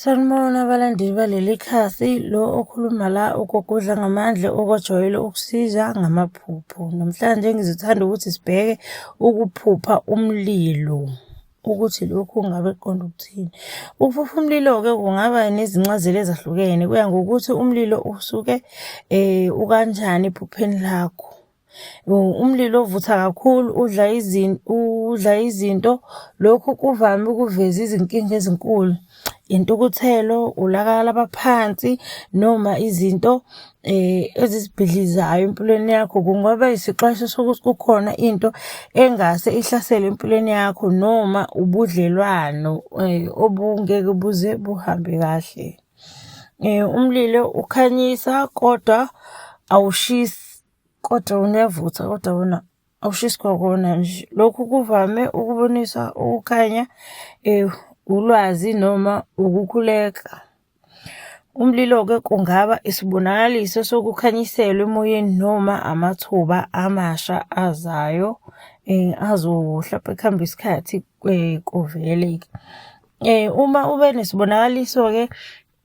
Sanibona abalandeli baleli khasi, lo okhuluma la ugogodla ngamandla okwajwayele ukusiza ngamaphupho. Namhlanje ngizothanda ukuthi sibheke ukuphupha umlilo ukuthi lokhu ngabe kuqonda ukuthini. Ukuphupha umlilo-ke kungaba nezincazelo ezahlukene, kuya ngokuthi umlilo usuke um ukanjani ephupheni lakho. Umlilo ovutha kakhulu udla udla izinto. Lokhu kuvame ukuveza izinkinga ezinkulu, intukuthelo, ulaka labaphansi noma izinto ezizibhidlizayo empilweni yakho. Kungaba isixwayiso sokuthi kukhona into engase ihlasele empilweni yakho noma ubudlelwano obungeke buze buhambe kahle. Umlilo ukhanyisa kodwa awushisi. Kodwa unevutha kodwa wona awushisi kwakona nje. Lokhu kuvame ukubonisa ukukhanya, um ulwazi noma ukukhuleka. Umlilo-ke kungaba isibonakaliso sokukhanyiselwa emoyeni noma amathuba amasha azayo um azohlampe kuhambe isikhathi um kuvele-ke. Um uma ube nesibonakaliso-ke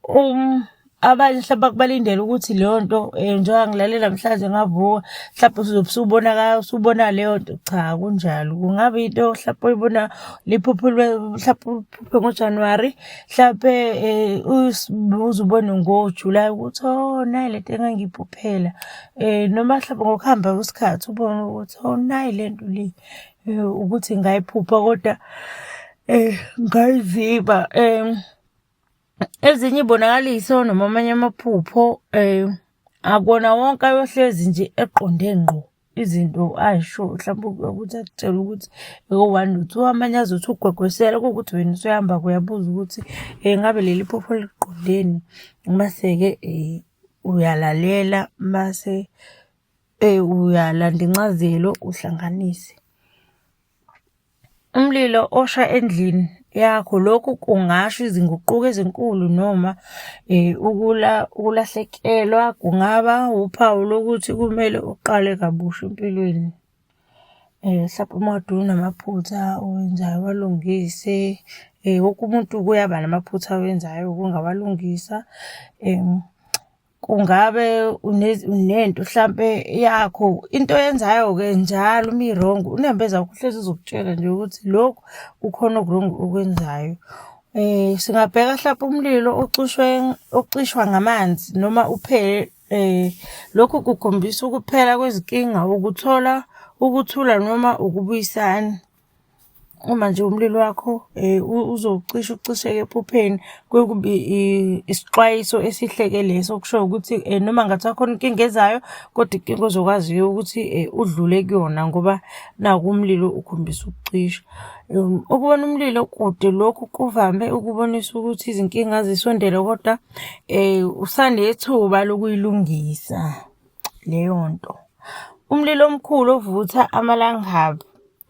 um abanye mhlawumbe akubalindele ukuthi leyo nto um njengoba ngilalela mhlawumbe ngavuka mhlawumbe uzobe usubona usubona leyo nto cha kunjalo kungaba into mhlawumbe oyibona liphupho mhlawumbe uphuphe ngojanuwari mhlawumbe um eh, uze ubone ngojulayi ukuthi o oh, nayi le nto engangiyiphuphela um eh, noma mhlawumbe ngokuhamba kwesikhathi ubone ukuthi o oh, nayi le nto le um eh, ukuthi ngayiphupha kodwa um ngayiziba um Ezinye ibonakaliso noma amanye amaphupho um akona wonke ayohlezi nje eqonde ngqo izinto ayisho mhlawumbe ukuthi akutshela ukuthi eko-one lutho amanye azothi ugwegwesela kuwukuthi wena usuhamba kuyabuza ukuthi um ngabe leli phupho liqondeni mase-ke um uyalalela mase um uyalanda incazelo uhlanganise Umlilo osha endlini yakho lokhu kungasho izinguquko ezinkulu noma eh, ukula ukulahlekelwa kungaba uphawu lokuthi kumele uqale kabusha empilweni. Eh, mhlawumbe uma kade unamaphutha owenzayo walungise eh, wonke umuntu kuyaba namaphutha awenzayo kungawalungisa kungabe unento hlampe yakho into yenzayo ke njalo uma i-wrong unembeza wakho uhlezi uzokutshela nje ukuthi lokhu kukhona oku-wrong okwenzayo um singabheka hlampe umlilo ocushwe ocishwa ngamanzi noma uphele um lokhu kukhombisa ukuphela kwezinkinga ukuthola ukuthula noma ukubuyisana uma nje umlilo wakho um uzocisha ucisheke ephupheni kwekube isixwayiso esihle-ke leso okushoyo ukuthi um noma kungathiwa khona inkinga ezayo kodwa inkinga ozokwaziyo ukuthi um udlule kuyona ngoba naku umlilo ukhombisa ukucisha. Um ukubona umlilo kude lokhu kuvame ukubonisa ukuthi izinkinga zisondele kodwa um usanethuba lokuyilungisa. leyo nto. Umlilo omkhulu ovutha amalangabi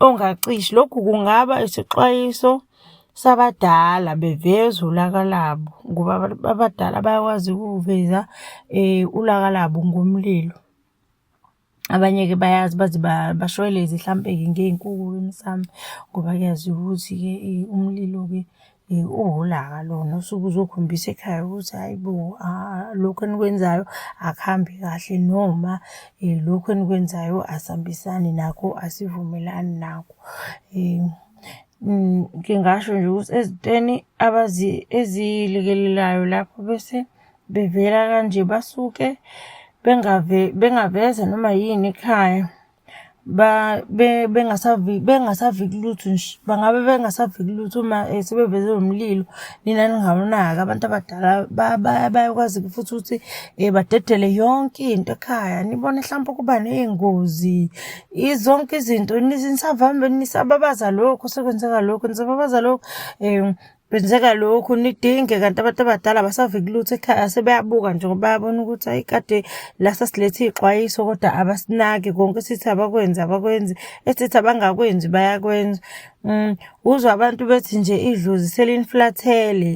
ongacishi. Lokhu kungaba isixwayiso sabadala beveza ulaka labo ngoba abadala bayakwazi ukuveza eh, ulaka labo ngomlilo. Abanye-ke bayazi baze bashweleze hlampe-ke ngey'nkuku-ke emsamo ngoba kuyaziwa ukuthi-ke umlilo-ke. Eh, uholaka lona usuke uzokhombisa ekhaya ukuthi hayi bo ah, lokhu enikwenzayo akuhambi kahle noma um lokhu enikwenzayo asihambisani nakho asivumelani nakho um ngingasho nje ukuthi ezintweni eziyilikelelayo lapho bese bevela kanje basuke bengaveza noma yini ekhaya bengasaviki bengasaviki lutho nje bangabe bengasaviki lutho uma eh, sebeveze lo mlilo nina ningamunaki abantu abadala bayakwazi futhi ukuthi um badedele yonke into ekhaya nibone mhlawumpe ukuba ney'ngozi zonke izinto nisavambe nisababaza lokho sekwenzeka lokho nisababaza lokho um Kwenzeka lokhu nidinge kanti abantu abadala abasaviki lutho ekhaya sebeyabuka nje ngoba bayabona ukuthi ayi kade la sasilethe iy'xwayiso kodwa abasinaki konke esithi abakwenzi abakwenzi esithi abangakwenzi bayakwenza um uzwa abantu bethi nje idlozi seliniflathele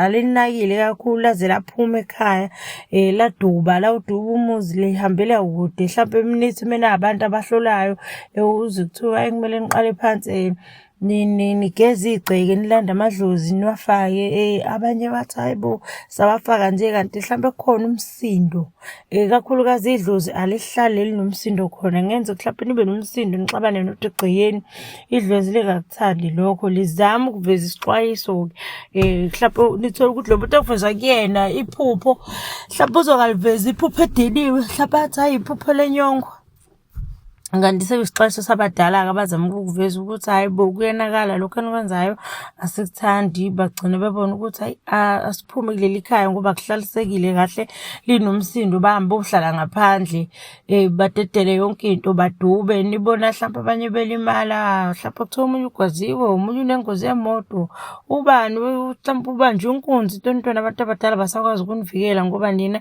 alinakile kakhulu laze laphuma ekhaya um laduba lawuduba umuzi lihambela kude hlampe emnithi mena abantu abahlolayo um uze kuthiwa ekumele niqale phansi um nigeza igceke nilanda amadlozi niwafake eh abanye bathi hayibo sawafaka nje kanti mhlawumbe kukhona umsindo eh kakhulukazi idlozi alihlale linomsindo khona ngenze mhlawumbe nibe nomsindo nixabane nothi egcekeni idlozi lingakuthandi lokho lizama ukuveza isixwayiso ke eh mhlawumbe nithola ukuthi lo muntu okuveza kuyena iphupho mhlawumbe uzokaliveza iphupho ediniwe mhlawumbe athi hayi iphupho lenyongo kanti sekusixesha sabadala-ke abazama ukukuveza ukuthi hhayi bo kuyenakala lokhu enikwenzayo asikuthandi bagcine bebona ukuthi hhayi asiphume kuleli khaya ngoba kuhlalisekile kahle linomsindo bahambe bohlala ngaphandle um badedele yonke into badube nibona hlampe abanye belimala hlampe kuthiwa omunye ugwaziwe omunye unengozi yemoto ubani hlampe ubanjwe inkunzi into ntwana abantu abadala basakwazi ukunivikela ngoba nina